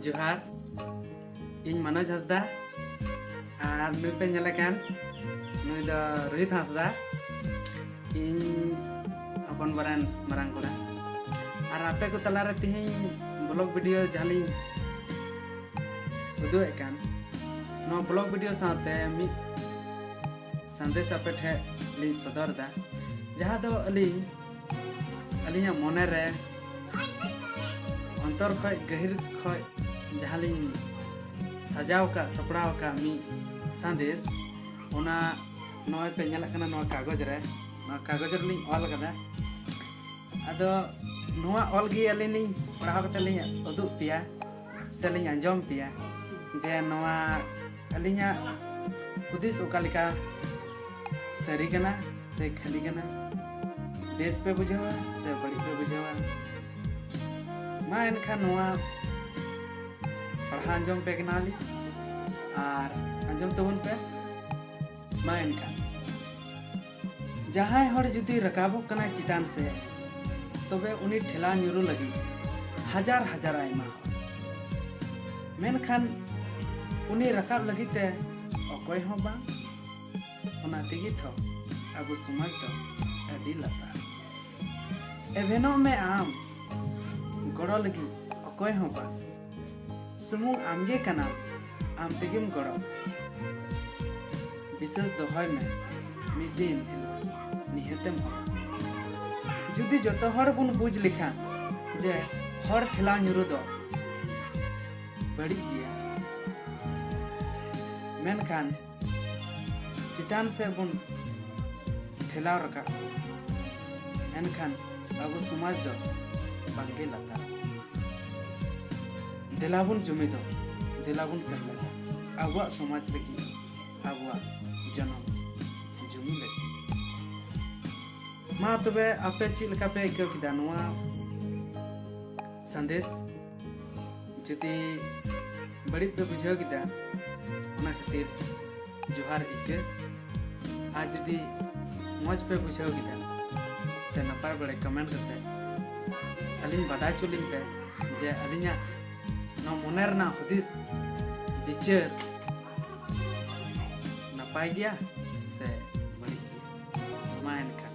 ᱡᱚᱦᱟᱨ ᱤᱧ ᱢᱟᱱᱚᱡᱽ ᱦᱟᱸᱥᱫᱟ ᱟᱨ ᱱᱩᱭ ᱯᱮ ᱧᱮᱞᱮ ᱠᱟᱱ ᱱᱩᱭ ᱫᱚ ᱨᱳᱦᱤᱛ ᱦᱟᱸᱥᱫᱟ ᱤᱧ ᱦᱚᱯᱚᱱ ᱵᱟᱨᱮᱱ ᱢᱟᱨᱟᱝ ᱠᱚᱲᱟ ᱟᱨ ᱟᱯᱮ ᱠᱚ ᱛᱟᱞᱟᱨᱮ ᱛᱤᱦᱤᱧ ᱵᱞᱚᱜ ᱵᱷᱤᱰᱤᱭᱳ ᱡᱟᱦᱟᱸᱞᱤᱧ ᱩᱫᱩᱜᱮᱫ ᱠᱟᱱ ᱱᱚᱣᱟ ᱵᱞᱚᱜ ᱵᱷᱤᱰᱤᱭᱳ ᱥᱟᱶᱛᱮ ᱢᱤᱫ ᱥᱟᱸᱫᱮᱥ ᱟᱯᱮ ᱴᱷᱮᱡ ᱞᱤᱧ ᱥᱚᱫᱚᱨ ᱮᱫᱟ ᱡᱟᱦᱟᱸ ᱫᱚ ᱟᱹᱞᱤᱧ ᱟᱹᱞᱤᱧᱟᱜ ᱢᱚᱱᱮ ᱨᱮ ᱚᱱᱛᱚᱨ ᱠᱷᱚᱡ ᱜᱟᱹᱦᱤᱨ ᱠᱷᱚᱡ ᱡᱟᱦᱟᱸ ᱞᱤᱧ ᱥᱟᱡᱟᱣ ᱟᱠᱟᱫ ᱥᱟᱯᱲᱟᱣ ᱟᱠᱟᱫ ᱢᱤᱫ ᱥᱟᱸᱫᱮᱥ ᱚᱱᱟ ᱱᱚᱜᱼᱚᱭ ᱯᱮ ᱧᱮᱞᱮᱫ ᱠᱟᱱᱟ ᱱᱚᱣᱟ ᱠᱟᱜᱚᱡᱽ ᱨᱮ ᱱᱚᱣᱟ ᱠᱟᱜᱚᱡᱽ ᱨᱮᱞᱤᱧ ᱚᱞ ᱟᱠᱟᱫᱟ ᱟᱫᱚ ᱱᱚᱣᱟ ᱚᱞ ᱜᱮ ᱟᱹᱞᱤᱧ ᱞᱤᱧ ᱯᱟᱲᱦᱟᱣ ᱠᱟᱛᱮ ᱞᱤᱧ ᱩᱫᱩᱜ ᱯᱮᱭᱟ ᱥᱮ ᱞᱤᱧ ᱟᱸᱡᱚᱢ ᱯᱮᱭᱟ ᱡᱮ ᱱᱚᱣᱟ ᱟᱹᱞᱤᱧᱟᱜ ᱦᱩᱫᱤᱥ ᱚᱠᱟ ᱞᱮᱠᱟ ᱥᱟᱹᱨᱤ ᱠᱟᱱᱟ ᱥᱮ ᱠᱷᱟᱹᱞᱤ ᱠᱟᱱᱟ ᱵᱮᱥ ᱯᱮ ᱵᱩᱡᱷᱟᱹᱣᱟ ᱥᱮ ᱵᱟᱹᱲᱤᱡ ᱯᱮ ᱵᱩᱡᱷᱟᱹᱣᱟ ᱢᱟ ᱮᱱᱠᱷᱟᱱ ᱱᱚᱣᱟ ᱯᱟᱲᱦᱟᱣ ᱟᱸᱡᱚᱢ ᱯᱮ ᱠᱟᱱᱟᱞᱤᱧ ᱟᱨ ᱟᱸᱡᱚᱢ ᱛᱟᱵᱚᱱ ᱯᱮ ᱢᱟ ᱮᱱᱠᱷᱟᱱ ᱡᱟᱦᱟᱸᱭ ᱦᱚᱲ ᱡᱩᱫᱤ ᱨᱟᱠᱟᱵᱚᱜ ᱠᱟᱱᱟᱭ ᱪᱮᱛᱟᱱ ᱥᱮ ᱛᱚᱵᱮ ᱩᱱᱤ ᱴᱷᱮᱞᱟ ᱧᱩᱨᱩ ᱞᱟᱹᱜᱤᱫ ᱦᱟᱡᱟᱨ ᱦᱟᱡᱟᱨ ᱟᱭᱢᱟ ᱢᱮᱱᱠᱷᱟᱱ ᱩᱱᱤ ᱨᱟᱠᱟᱵ ᱞᱟᱹᱜᱤᱫ ᱛᱮ ᱚᱠᱚᱭ ᱦᱚᱸ ᱵᱟᱝ ᱚᱱᱟ ᱛᱮᱜᱮ ᱛᱷᱚ ᱟᱵᱚ ᱥᱚᱢᱟᱡᱽ ᱫᱚ ᱟᱹᱰᱤ ᱞᱟᱛᱟᱨ ᱮᱵᱷᱮᱱᱚᱜ ᱢᱮ ᱟᱢ ᱜᱚᱲᱚ ᱞᱟᱹᱜᱤᱫ ᱚᱠᱚᱭ ᱦᱚᱸ ᱵᱟᱝ ᱥᱩᱢᱩᱝ ᱟᱢᱜᱮ ᱠᱟᱱᱟᱢ ᱟᱢ ᱛᱮᱜᱮᱢ ᱜᱚᱲᱚ ᱵᱤᱥᱮᱥ ᱫᱚᱦᱚᱭ ᱢᱮ ᱢᱤᱫ ᱫᱤᱱ ᱦᱤᱞᱳᱜ ᱱᱤᱦᱟᱹᱛᱮᱢ ᱦᱚᱲ ᱡᱩᱫᱤ ᱡᱚᱛᱚ ᱦᱚᱲ ᱵᱚᱱ ᱵᱩᱡᱽ ᱞᱮᱠᱷᱟᱱ ᱡᱮ ᱦᱚᱲ ᱴᱷᱮᱞᱟᱣ ᱧᱩᱨᱩ ᱫᱚ ᱵᱟᱹᱲᱤᱡ ᱜᱮᱭᱟ ᱢᱮᱱᱠᱷᱟᱱ ᱪᱮᱛᱟᱱ ᱥᱮᱫ ᱵᱚᱱ ᱴᱷᱮᱞᱟᱣ ᱨᱟᱠᱟᱵ ᱮᱱᱠᱷᱟᱱ ᱟᱵᱚ ᱥᱚᱢᱟᱡᱽ ᱫᱚ ᱵᱟᱝᱜᱮ ᱞᱟᱛᱟᱨ ᱫᱮᱞᱟ ᱵᱚᱱ ᱡᱩᱢᱤᱫᱚ ᱫᱮᱞᱟ ᱵᱚᱱ ᱥᱮᱢᱞᱮᱫᱟ ᱟᱵᱚᱣᱟᱜ ᱥᱚᱢᱟᱡᱽ ᱞᱟᱹᱜᱤᱫ ᱟᱵᱚᱣᱟᱜ ᱡᱚᱱᱚᱢ ᱡᱩᱢᱤ ᱞᱟᱹᱜᱤᱫ ᱢᱟ ᱛᱚᱵᱮ ᱟᱯᱮ ᱪᱮᱫ ᱞᱮᱠᱟ ᱯᱮ ᱟᱹᱭᱠᱟᱹᱣ ᱠᱮᱫᱟ ᱱᱚᱣᱟ ᱥᱟᱸᱫᱮᱥ ᱡᱩᱫᱤ ᱵᱟᱹᱲᱤᱡ ᱯᱮ ᱵᱩᱡᱷᱟᱹᱣ ᱠᱮᱫᱟ ᱚᱱᱟ ᱠᱷᱟᱹᱛᱤᱨ ᱡᱚᱦᱟᱨ ᱤᱠᱟᱹ ᱟᱨ ᱡᱩᱫᱤ ᱢᱚᱡᱽ ᱯᱮ ᱵᱩᱡᱷᱟᱹᱣ ᱠᱮᱫᱟ ᱥᱮ ᱱᱟᱯᱟᱭ ᱵᱟᱲᱮ ᱠᱚᱢᱮᱱᱴ ᱠᱟᱛᱮ ᱟᱹᱞᱤᱧ ᱵᱟᱰᱟᱭ ᱦᱚᱪᱚ ᱞᱤᱧ ᱯᱮ ᱡᱮ ᱟᱹᱞᱤᱧᱟᱜ ᱱᱚᱣᱟ ᱢᱚᱱᱮ ᱨᱮᱱᱟᱜ ᱦᱩᱫᱤᱥ ᱵᱤᱪᱟᱹᱨ ᱱᱟᱯᱟᱭ ᱜᱮᱭᱟ ᱥᱮ ᱵᱟᱹᱲᱤᱡ ᱜᱮᱭᱟ ᱢᱟ ᱮᱱᱠᱷᱟᱱ